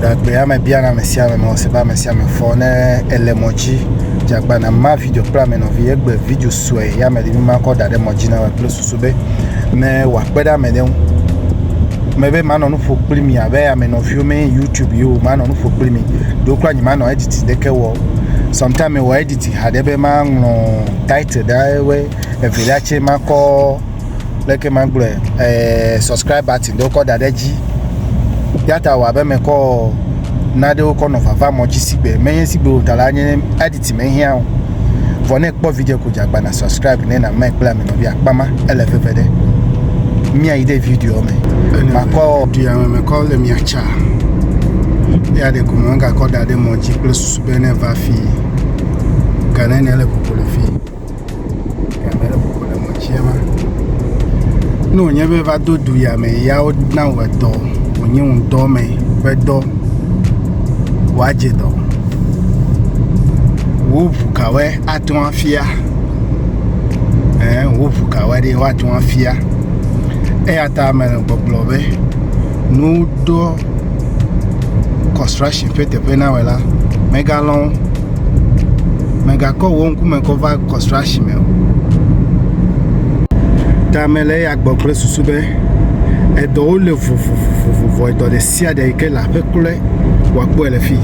Ɖagbeame biana ame sia ame mɔ si be ame sia ame fɔ ne ele mɔ dzi dze agbagba na ma video kple ame nɔvi egbe video sue ya me ɖi ma kɔ da ɖe mɔ dzi na kple susu be ne wòakpe ɖe ame ɖe ŋu. Mebe manɔ nu ƒo kpli mi abe ame nɔviwo mi youtube ye o manɔ nu ƒo kpli mi ɖo kura nyemanɔ editi ɖeke wɔ o. Sɔmtaim mewɔ editi haɖe be maŋlɔ title ɖe ewɔe evelia tse makɔ. leke magblɔe eh, subscribe button ɖewo kɔ da ɖe dzi yata wɔ abe mekɔ naɖewo kɔ nɔ vava mɔ dzi sigbe menye sigbe o ta la nye editi mehiã o vɔ ne kpɔ video ko dzagba na subscribe ne na mɛ kple amenɔvi akpa ma ele veve ɖe miayi ɖe video me makɔ duyame mekɔ le miatsa ya ɖe ko mɔ gakɔ da ɖe mɔ dzi kple susu be ne va fi gane ne le kokolo fi Ame aɖe bɔbɔ le mɔtia me. Ne wònye be va do du ya me ya wona wò edɔ wònye wò ŋutɔ me ƒe dɔ wòadze dɔ. Wò ŋu kawoe ate ŋu afia? Ee wò ŋu kawoe ɖi woate ŋu afia? Eya ta mele gbɔgblɔ be nuɖɔ. construction ƒe teƒe na wɔ la, mègalɔ̃ wo. Mègakɔ wò ŋkume kɔ va construction me o. Ta mele eya gbɔ kple susu be edɔwo le vovovovovo, edɔ ɖe sia ɖe yi ke le aƒe kloe wòakpɔe le fii.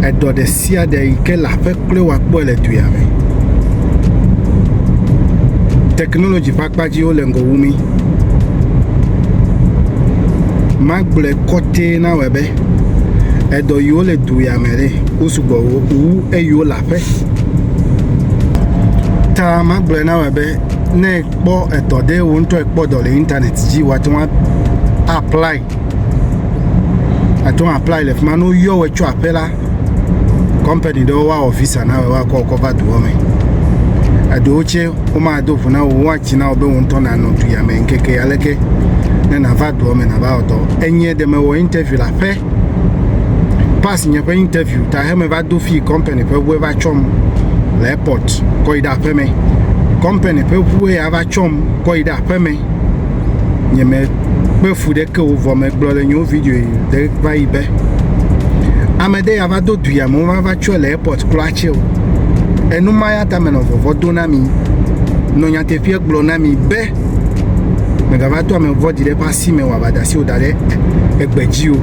Edɔ ɖe sia ɖe yi ke le aƒe kloe wòakpɔe le du ya me. Technology ƒe akpa dziwo le ŋgɔ wu mí. magblɔe kɔtɛ na wɔ be edɔ yiwo le du ya me ɖe wo sugbɔ wu eyiwo le aƒe ta magblɔe na wɔ be ne ekpɔ edɔ ɖe wo ŋutɔ ekpɔ dɔ le internet dzi wate ŋu apply àte ŋu apply le fi ma ne woyɔ wɔ tso aƒe la kɔmpani ɖewo woawɔ visa na wɔ woakɔ kɔ va doa me eɖewo tsɛ womado ʋu na wɔ woatsi na wɔ be wo ŋutɔ nanɔ du ya me ŋkeke aleke ne nàva doa me nàva wɔ dɔ enye ɖe mewɔ interview le aƒe pass nye ƒe interview ta he meva do fi kɔmpani ƒe ʋue va tsɔm le airport kɔ yi ɖe aƒeme kɔmpani ƒe ʋue ya va tsɔm kɔ yi ɖe aƒeme nye me kpe fu ɖe ke wovɔ me gblɔ le nyo video yi de va yi be ame ɖe ya va do du ya me wova va tsɔe le airport kura tse o enu ma ya ta me nɔ vɔvɔ do na mi nɔ nyateƒe gblɔ na mi be megava to ame vɔdi ɖe ƒe asi me wòava da si o da ɖe egbe dzi o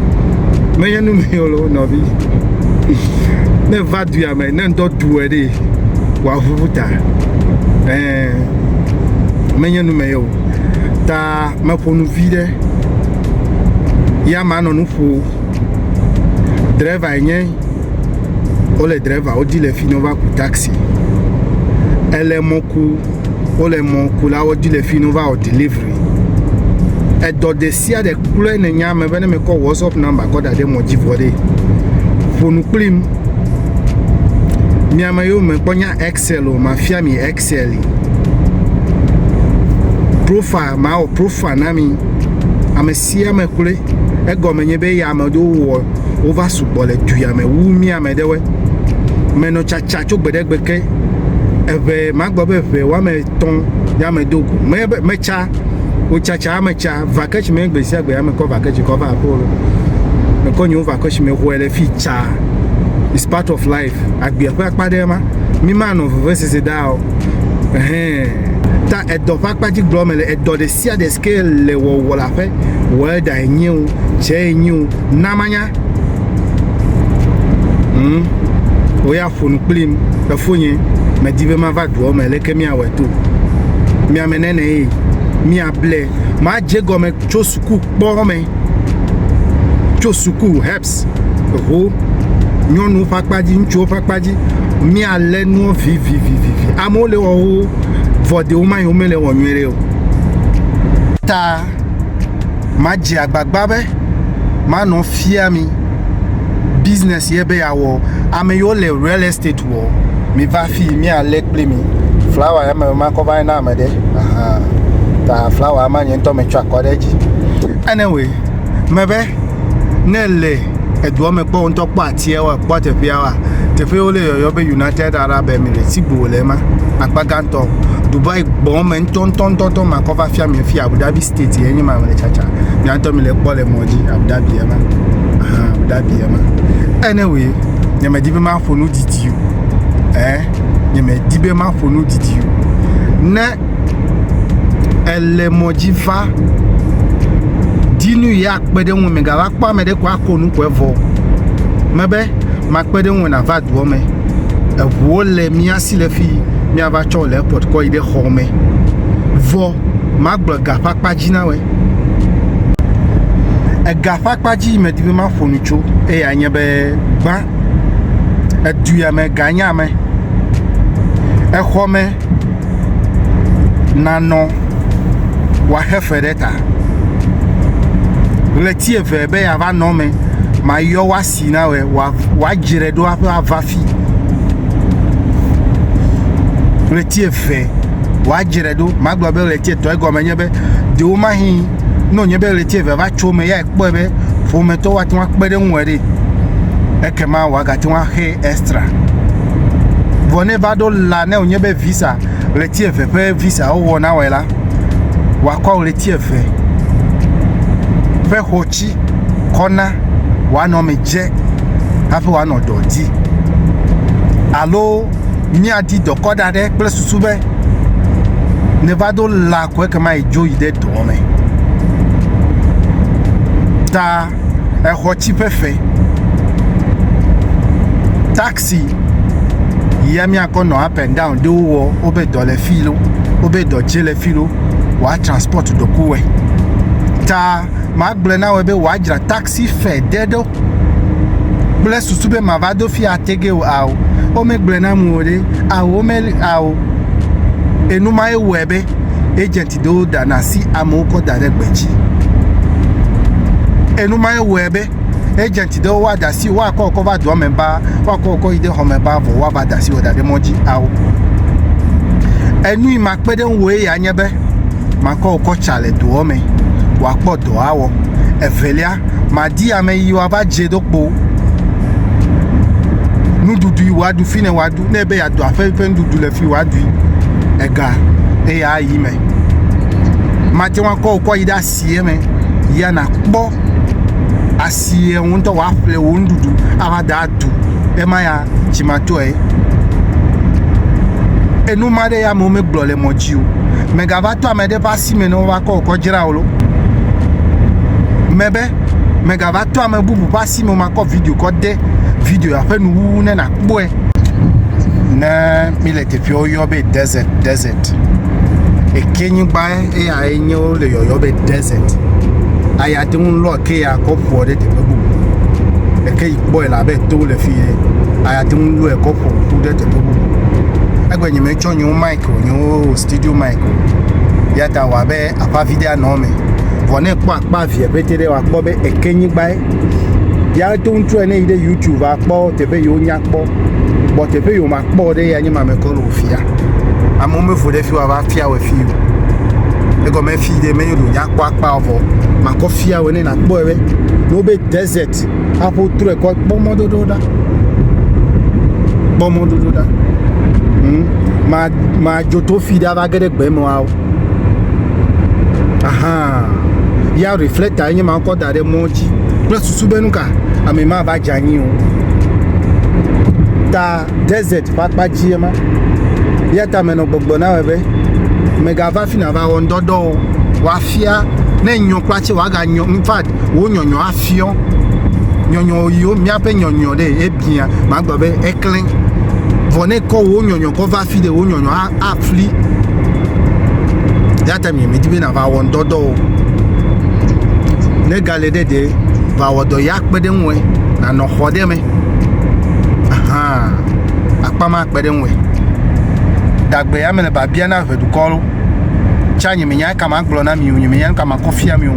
menye nu mi o le wo nɔvi ne va du ya me ne ŋdɔ du ɛ ɖe wòaʋuʋu ta ɛɛ menye nu me ye o ta meƒo nu vi ɖe ya ma nɔ nu ƒo driver yi nye wole driver wodi le fi ne wova ku taxi ele mɔ ku wole mɔ ku la wodi le fi ne wova wɔ delivery edɔ de sia de kple ne nya me be ne mekɔ whatsapp number kɔ da ɖe mɔ dzi vɔ ɖe ƒo nu kplim miame yewo me kpɔ nya ex Excel o, mafia mi Excel. Profile, mawɔ profile na mi. Ame sia ame kloe. Egɔme nye be ya ame ɖewo wɔ wova sugbɔ le du ya me wu mi ame ɖewoe. Menɔ tsatsa tso gbe ɖe gbe ke. Eʋe, magblɔ be ʋe woame etɔ̃ ya me do go. Me be metsa, wotsatsa ame tsa. Vaketsi me gbe sia gbe ya mekɔ vaketsi kɔ va aƒewo. Mekɔ nyewo vaketsi me hɔɛ le fi tsa. It's part of life. agbea ƒe akpa ɖe ma mi ma nɔ veve sese da o ɛhɛn ta edɔ ƒe akpa dzi gblɔ me le edɔ ɖe sia ɖe sike le wɔwɔ la ƒe wɔe da enye o tsɛ enye o na manya hmm wo ya ƒonu kplim efo nye medi be mava doɔ me leke mi awɔ to mi ame nene ye mi able ma je gɔme tso suku kpɔ eme tso suku herbs ho nyɔnuwo ƒe akpa dzi ŋutsuwo ƒe akpa dzi míalé nuwo vivivivi amewo le wɔ wo vɔdewo ma yi womele wɔ nyuie ɖe o ta madze agbagba be manɔ fia mi business ye be yeawɔ ame yiwo le real estate kpɔ. Mi va fi mia le kple mi. Flawa ya me ma kɔ va na ame ɖe. Aha. Ta flawa ma nye ŋutɔ me tsɔ akɔ ɖe dzi. Anyway, me be ne le edua me kpɔ ŋutɔ kpɔ atia wa kpɔ teƒea wa. Teƒe wo le yɔyɔ be United Arab Emirates si gbo le ma. Akpa gãtɔ Dubai gbɔ me ŋutɔ ŋutɔ ŋutɔ ŋutɔ ma kɔ va fia mi fi Abu Dhabi state ye nye ma me le tsatsa. Mi ŋutɔ mi le kpɔ le mɔ dzi Abu Dhabi ya ma. Aha, Abu Dhabi ya ma. Anyway, nye me di be ma ƒo nu didi o ɛɛ nye medi be maƒo nu didi o. Ne èle mɔ dzi va di nu yi akpe ɖe ŋu megava kpɔ ame ɖe ko ako nu ko evɔ mebe makpe ɖe ŋu nàva doɔ me. Eŋuwo le mía si le fii míava tsɔ le airport kɔ yi ɖe xɔ me. Vɔ magblɔ ega ƒe akpa dzi na wɔe. Ega ƒe akpa dzi yi medi be maƒo nu tso eyae nye be gbã edua me ganya me, exɔ me nanɔ wòaxe fe ɖe ta. Ɣleti eve be yeava nɔ eme, mayɔ wòasi na wòe wòadzre ɖo aƒe ava fi. Ɣleti eve wòadzre ɖo, magblɔ be ɣleti etɔ̃ egɔme nye be, ɖewomahi ne wònye be ɣleti eve va tso eme ya kpɔe be ƒometɔwo ate ŋu akpe ɖe eŋu ɖe ekema wòagate ŋu axe extra vɔ ne va ɖo la ne wònye be visa ɣleti eve ƒe visa wowɔ na wɔe la wòakɔ ɣleti eve ƒe xɔtsi kɔ na wòanɔ me dze hafi wòanɔ dɔ di alo míadi dɔkɔ ɖa ɖe kple susu be ne va do la ko ekema yi dzo yi ɖe dɔ me ta exɔ tsi ƒe fe taxi ya míakɔ nɔ up and down ɖo wɔ wobe dɔ le fi lo wobe dɔ dze le fi lo wòa transport dɔkuwɛ ta magblɔ na wɔ be wòa dzra taxi si fe de ɖo kple susu be mava do fi atege o ao womegblɔe na mu o ɖe ao wome ao enu ma ewɔe be agent ɖewo ɖana asi amewo kɔ da ɖe gbe dzi enu ma ewɔe be agent ɖewo woada asi woakɔ wokɔ va doa me ba woakɔ wokɔ yi ɖe xɔ me ba vɔ woava da asi wɔ da ɖe mɔ dzi ao enui makpe ɖe ŋu ye anye be makɔ wokɔ tsa le doɔ me wòakpɔ dɔ awɔ. Evelia, madi ame yi woava dze ɖo kpo o. Nuɖuɖu yi woaɖu fi ne woaɖu ne be yeaɖu aƒe ƒe nuɖuɖu le fi woaɖui ega eye ayi me. Mate ŋu akɔ wokɔ yi ɖe asie me ya nakpɔ asie wò ŋutɔ woaƒle wò nuɖuɖu ava da aɖu ema ya dzimatɔe. Enu ma ɖe ya amewo megblɔ le mɔ dzi o. Mègava to ame aɖe ƒe si me ne wova kɔ wòkɔ dzra wò lo mebe megava tɔ ame bubu ƒe asi me makɔ video kɔ de video aƒe nuwuwu ne nakpɔe ne mile teƒe woyɔ be desert desert eke nyigba eya enye wo le yɔyɔ be desert aya te ŋu lɔ ke ya kɔ ƒoa ɖe teƒe bubu eke yi kpɔe la be to le fi ye aya te ŋu lɔe kɔ ƒo ƒu ɖe teƒe bubu egbe nye metsɔ nye wo mai tso nyewo wɔ studio mic o ya ta wɔ abe akpa vi ɖe anɔ eme vɔ ne kpɔ akpa via pete ɖe wakpɔ be eke nyigbae ya to ŋutsua ne yi ɖe youtube akpɔ teƒe yiwo nya kpɔ bɔ teƒe yiwo makpɔ ɖe ya nye ma mekɔ le ofia amewo mevo ɖe fi wa va fia wɔ fi o egɔme fi ɖe menyo ɖo nya kpɔ akpa vɔ makɔ fia wɔ ne nakpɔ ebe no be desert Christ. Aƒo trɔe kɔ kpɔ mɔdodo ɖa. Kpɔ mɔdodo ɖa. Hmm. Ma ma joto fi ɖa va ge ɖe gbe mɔa. Aha. Ya reflector nye ma kɔ da ɖe mɔ dzi. Kple susu be nuka ame ma va djanyi o. Ta desert ƒe akpa dzi ema. Ya ta menɔ gbɔgblɔ na be megava fi na va wɔndɔdɔ o. Wafia ne nyɔ kpla tse waga nyɔ. In fact, wo nyɔnyɔ afia. Fiɔ, nyɔnyɔ yiwo míaƒe nyɔnyɔ ɖe ebia, magblɔ be eklẽ. Vɔ ne kɔ wò nyɔnyɔ kɔ va fi ɖe wò nyɔnyɔ afli. Ya ta mi medi be nava wɔ ŋdɔdɔ o. Ne gale ɖe ɖe va wɔ dɔ ya kpe ɖe ŋue nanɔ xɔ ɖe me. Ahan akpa ma kpe ɖe ŋue. Dagbe ya me le babia na ʋe dukɔ lo. Tsa nye menya ka magblɔ na mi o nye menya nu ka makɔ fia mi o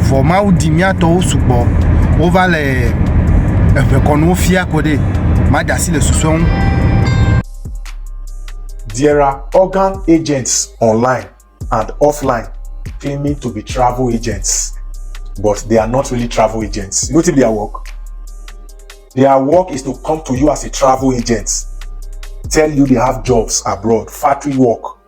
vɔ mawu di mía tɔwo sugbɔ wova le eʋekɔnuwo fia ko ɖe made asi le susɔe ŋu There are organ agents online and offline claiming to be travel agents, but they are not really travel agents. You know their work? Their work is to come to you as a travel agent, tell you they have jobs abroad, factory work,